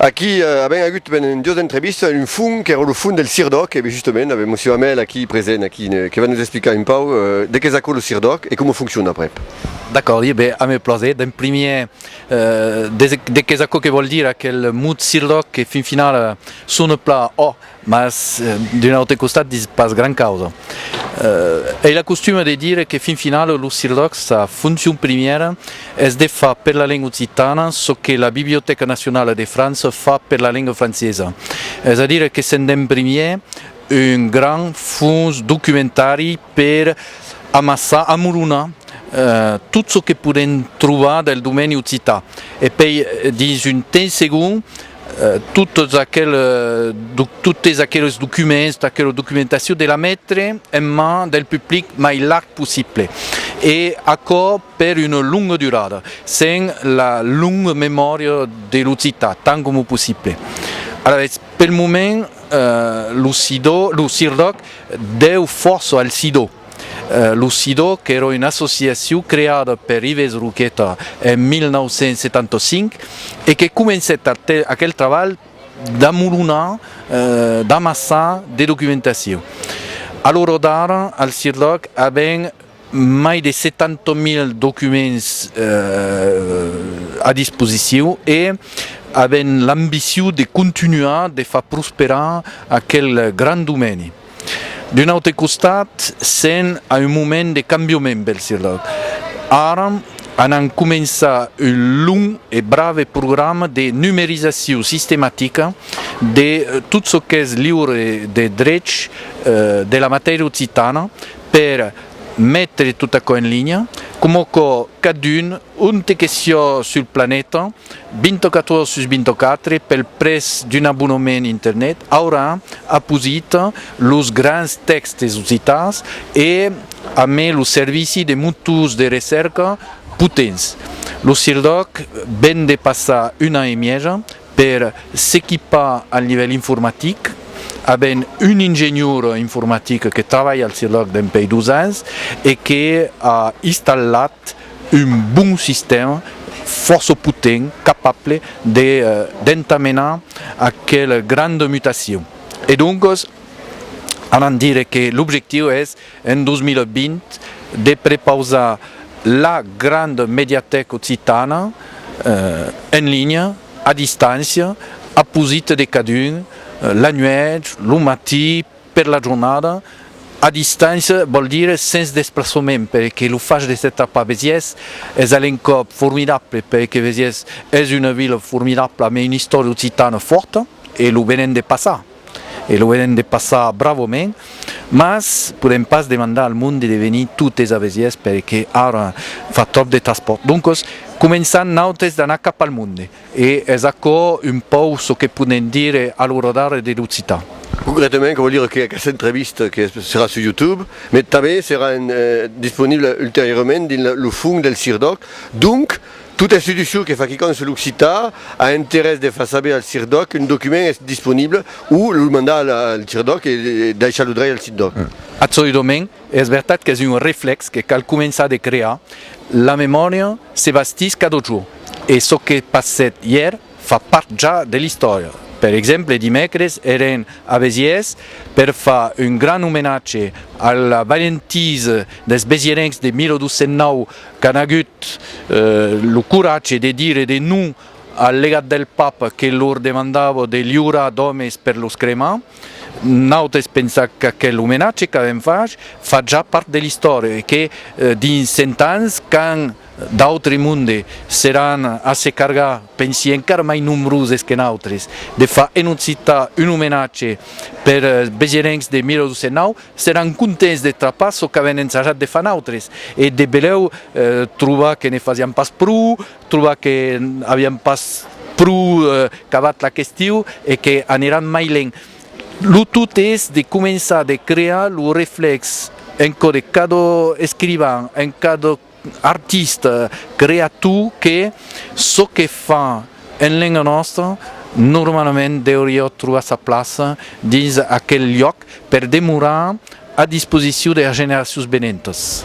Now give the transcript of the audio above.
Aquí avèm agut pendent duas entrevistas un fon qu'èra lo fon del CIRDOC e justement avèm Monsieur Hamel aquí present aquí que va nos explicar un pauc de qu'es aquò lo CIRDOC e coma foncciona aprèp. D'acòrd, ieu ben, ame plaser. D'en primièr, de qu'es aquò que vòl dire aquel mot CIRDOC que fin finala sona plan òc, Mas, d'un aute costat, ditz pas gran causa. Ei la costuma de dire que fin finala lo CIRLOC, sa foncion primièra es de far per la lenga occitana çò que la Bibliotèca Nacionala de França fa per la lenga francesa, es a dire que s'en den primièr un grand fons documentari per amassar, amolonar, tot çò que podèm trobar del domeni occitan e pei dins un temps segond, Totes aqueles documents, tota aquela documentacion de la metre en man del public mai larg possible e aquò per una longa durada, sens la longa memòria de l'occitan, tant coma possible. Alavetz, pel moment, lo CIRDOC deu fòrça al CIDO. Lo Sidò, qu'èra una associacion creada per Ives Roqueta en 1975 e que comencèt aquel trabalh d'amolonar, d'amassar de documentacion. A l'ora d'ara, al CIRDOC avèm mai de 70.000 documents a disposicion e avèm l'ambicion de contunhar de far prosperar aquel grand domeni. D'un aute costat, sèm a un moment de cambioment pel CIRDAD. Ara, anam començar un long e brave programa de numerizacion sistematica de tot çò qu'es liure de drech de la matèria occitana per metre tot aquò en linha, coma aquò cadun, onte que siá sul planeta, 24 sus 24 pel prètz d'un abonement internet aurà aposit los grands tèxtes occitans e a mai lo servici de motors de recèrca potents. Lo CIRDOC ven de passar un an e mièja per s'equipar al nivèl informatic, avent un ingenior informatic que travalha al CIRDOC dempèi dos ans e que a installat, estat un bon sistèma fòrça potent, capable de d'entamenar aquela granda mutacion. E doncas, anam dire que l'objectiu es, en 2020, de prepausar la granda mediatèca occitana en linha, a distància, a posita de cadun, la nuèch, lo matí, Per la jornada, a distància vòl dire sens desplaçament perque lo fach de s'estar pas vesièrs es a l'encòp formidable perque Vesièrs es una vila formidabla mai una istòria occitana fòrta e lo venèm de passar e lo venèm de passar bravament mas podèm pas demandar al monde de venir totes a Vesièrs perque ara fa tròp de traspòrt doncas començam nautes d'anar cap al monde. E es aquò un pauc çò que podèm dire a l'oradòri de l'occitan. Concrètament, aquò vòl dire que aquesta entrevista que serà sus YouTube, mai tanben serà disponibla ulteriorament dins lo fum del CIRDOC. Donc, tota institucion que fa quicòm sus l'occitan a interès de far saber al CIRDOC qu'un document es disponibla o lo mandar al CIRDOC e daishar lo drech al CIRDOC. Absoludament. Es vertat qu'es un reflèx que cal començar de crear, la memòria se bastís cada jorn e çò que passèt ièr fa part ja de l'istòria. Per exemple, dimècres èren a Besièrs per far un grand omenatge a la valentisa dels besièrencs de 1209 qu'an agut lo coratge de dire de non al legat del Papa que lor demandava de liurar d'òmes per los cremar. Naut es pensar qu'aquel omenatge qu'avèm fach fa ja part de l'istòria e que dins cent ans, quand d'autres mondes seràn a se cargar pensi encara mai nombroses que nautres, de far en occitan un omenatge pers besirencs de 1209, seràn contents de trapar çò qu'avèn ensajat de far nautres e de belèu trobar que ne fasián pas pro Trobar que aviam pas pro cavat la questiu e que aniran mai lent. Lo tot es de començar de crear lo reflex en cò de cada escrivan, en cada artista, creator que çò que fa en lenga nòstra normalament deuriá trobar sa plaça dins aquel luòc per demorar A disposicion der generacions venentas.